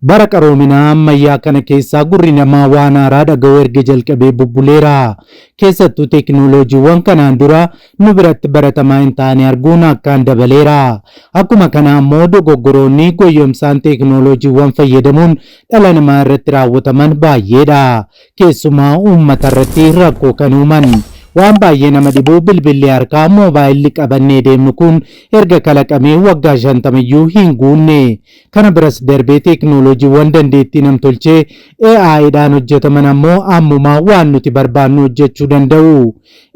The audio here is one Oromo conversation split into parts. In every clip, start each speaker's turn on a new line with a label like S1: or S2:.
S1: Bara qaroominaa ammayyaa kana keessaa gurri namaa waan haaraa dhaga'uu erga jalqabee bubbuleera. Keessattuu teeknooloojiiwwan kanaan dura nu biratti baratamaa hin taane arguun akkaan dabaleera. Akkuma kana ammoo dogoggoroonni goyyomsaan teeknooloojiiwwan fayyadamuun dhala namaa irratti raawwataman baay'eedha. Keessumaa uummata irratti rakkoo kan uuman. Waan baay'ee nama dhibu bilbilli harkaa, moobaayilli, qabannee deemnu kun erga kalaqamee waggaa shantama iyyuu hin guunne. Kana biras darbee teeknooloojiiwwan dandeettii namtolchee, AI, dhaan hojjetaman ammoo ammuma waan nuti barbaannu hojjechuu danda'u.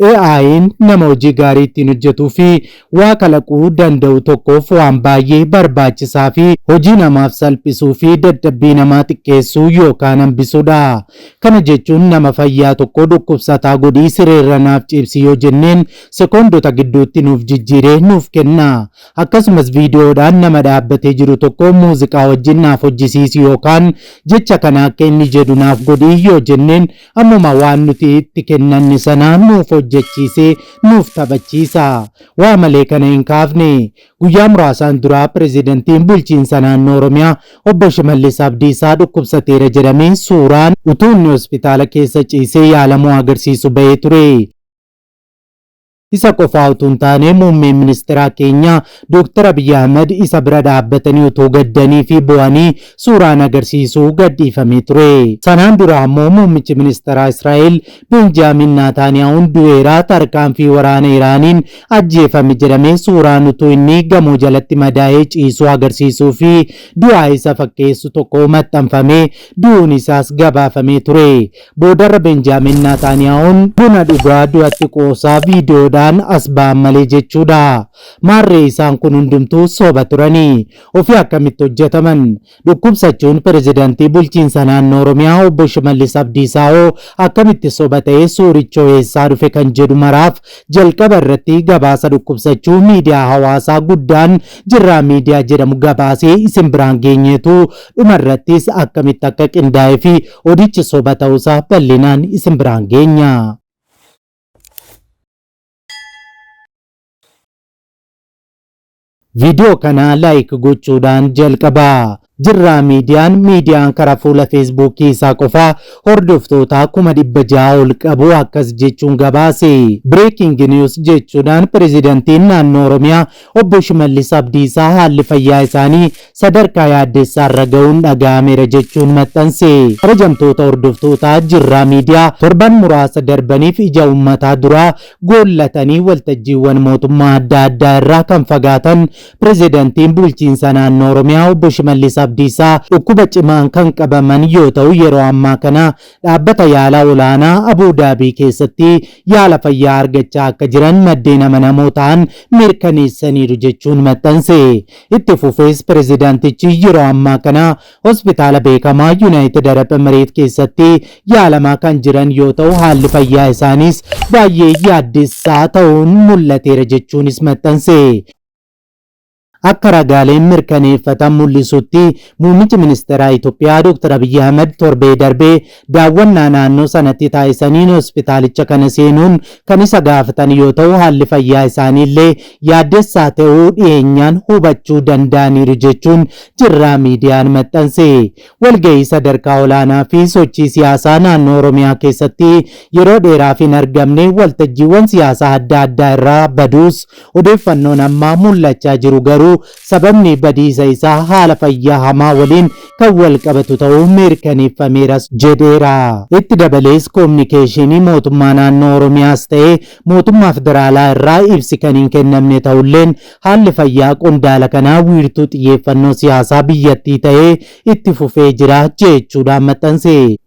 S1: AI'n nama hojii gaarii ittiin hojjetuu fi waa kalaquu danda'u tokkoof waan baay'ee barbaachisaa fi hojii namaaf salphisuu fi dadhabbii namaa xiqqeessuu yookaan hambisudha. Kana jechuun nama fayyaa tokko dhukkubsataa godhii sireerra naaf ciibsi yoo jenneen sekoondota gidduutti nuuf jijjiiree nuuf kenna. Akkasumas viidiyoodhaan nama dhaabbatee jiru tokko muuziqaa wajjin naaf hojjisiisi yookaan jecha kana akka inni jedhu naaf godhi yoo jenneen ammuma waan nuti itti kennanne sana nuuf hojjechiisee nuuf taphachiisa. Waa malee kana hin kaafne. Guyyaa muraasaan duraa pirezidantiin bulchiinsa naannoo Oromiyaa obbo Shimallis Abdiisaa dhukkubsateera jedhamee suuraan utuu inni hospitaala keessa ciisee yaalamuu agarsiisu bahee ture. Isa qofaa utuu hin taane muummeen ministeeraa keenya Dooktar Abiyyi Ahmad isa bira dhaabbatanii utuu gaddanii fi boo'anii suuraan agarsiisu gadhiifamee ture. Sanaan dura ammoo muummichi ministeeraa Israa'el Beenjaamiin Naataaniyaawuun du'eera, tarkaanfii waraana Iraaniin ajjeefame jedhamee suuraan utuu inni gamoo jalatti madaa'ee ciisuu agarsiisuu fi du'aa isa fakkeessu tokko maxxanfamee du'uun isaas gabaafamee ture. Boodarra Benjaamiin Naataaniyaahuun buna dhugaa du'atti qoosaa viidiyoodhaan as ba'an malee jechuudha. Maarree isaan kun hundumtuu soba turani. Ofii akkamitti hojjetaman? Dhukkubsachuun pirezidantii bulchiinsa naannoo Oromiyaa obbo Shimallis Abdiisaa hoo akkamitti soba ta'ee suurichoo eessaa dhufe kan jedhu maraaf jalqaba irratti gabaasa dhukkubsachuu miidiyaa hawaasaa guddaan Jirraa Miidiyaa jedhamu gabaasee isin biraan geenyeetu Dhuma irrattis akkamitti akka qindaa'ee fi odichi soba ta'uusaa bal'inaan isin biraan geenya. Viidiyoo kana laayik gochuudhaan jalqabaa. Jirraa miidiyaan miidiyaan karaa fuula feesbuukii isaa qofaa hordoftoota kuma dhibba ja'a ol qabu akkas jechuun gabaase. Breaking news jechuudhaan pirezidantiin naannoo Oromiyaa Obbo Shimallis Abdiisaa haalli fayyaa isaanii sadarkaa yaaddessaarra ga'uun dhaga'ameera jechuun maxxanse. Kabajamtoota hordoftoota Jirraa Media, torban muraasa darbaniif ija uummataa duraa goollatanii waltajjiiwwan mootummaa adda addaa irraa kan fagaatan Pirezidantiin Bulchiinsa Naannoo Oromiyaa Obbo Shimallis Abdiisaa dhukkuba cimaan kan qabaman yoo ta'u, yeroo ammaa kana Dhaabbata yaalaa olaanaa Abuu Daabii keessatti yaala fayyaa argachaa akka jiran maddeen amanamoo ta'an mirkaneessaniiru jechuun maxxanse. Itti fufees pirezidaantichi yeroo ammaa kana hospitaala beekamaa Yunaayitid Arab Emireet keessatti yaalamaa kan jiran yoo ta'u haalli fayyaa isaaniis baay'ee yaaddessaa ta'uun mul'ateera jechuunis maxxanse. Akka ragaaleen mirkaneeffatan mul'isutti, muummichi ministeeraa Itoophiyaa Dr. Abiyyi Ahimad torbee darbe daawwannaa naannoo sanatti taasisaniin hospitaalicha kana seenuun kan isa gaafatan yoo ta'u, haalli fayyaa isaanii illee yaaddessaa ta'uu dhiyeenyaan hubachuu danda'aniiru jechuun Jirraa Miidiyaan maxxanse. Walgahii sadarkaa olaanaa fi sochii siyaasaa naannoo Oromiyaa keessatti yeroo dheeraaf hin argamne waltajjiiwwan siyaasaa adda addaa irraa baduus Odeeffannoon ammaa mul'achaa jiru garuu sababni badiisa isaa haala fayyaa hamaa waliin kan wal qabatu ta'uu mirkaneeffameeras jedheera. Itti dabalees Kominikeeshiinii Mootummaa Naannoo Oromiyaas ta'ee Mootummaa Federaalaa irraa ibsi kan hin kennamne ta'ulleen haalli fayyaa qondaala kanaa wiirtuu xiyyeeffannoo siyaasaa biyyattii ta'ee itti fufee jira jechuudhaan maxxanse.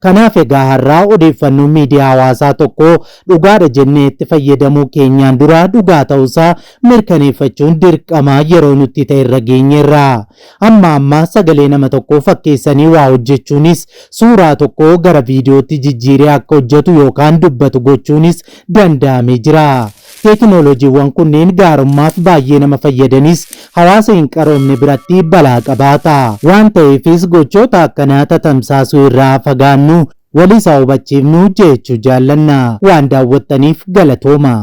S1: Kanaaf egaa har'aa odeeffannoon miidiyaa hawaasaa tokko dhugaadha jennee itti fayyadamuu keenyaan dura dhugaa ta'uusaa mirkaneeffachuun dirqama yeroo nutti ta'e irra geenyeerra. Amma amma sagalee nama tokkoo fakkeessanii waa hojjechuunis, suuraa tokko gara viidiyootti jijjiiree akka hojjetu yookaan dubbatu gochuunis danda'amee jira. Teekinooloojiiwwan kunniin gaarummaaf baay'ee nama fayyadanis hawaasa hin qaroomne biratti balaa qabaata. Waan ta'eefis gochoota akkanaa tatamsaasuu irraa fagaannu, waliis haa hubachiifnu jeechuu jaallanna. Waan daawwattaniif galatoomaa!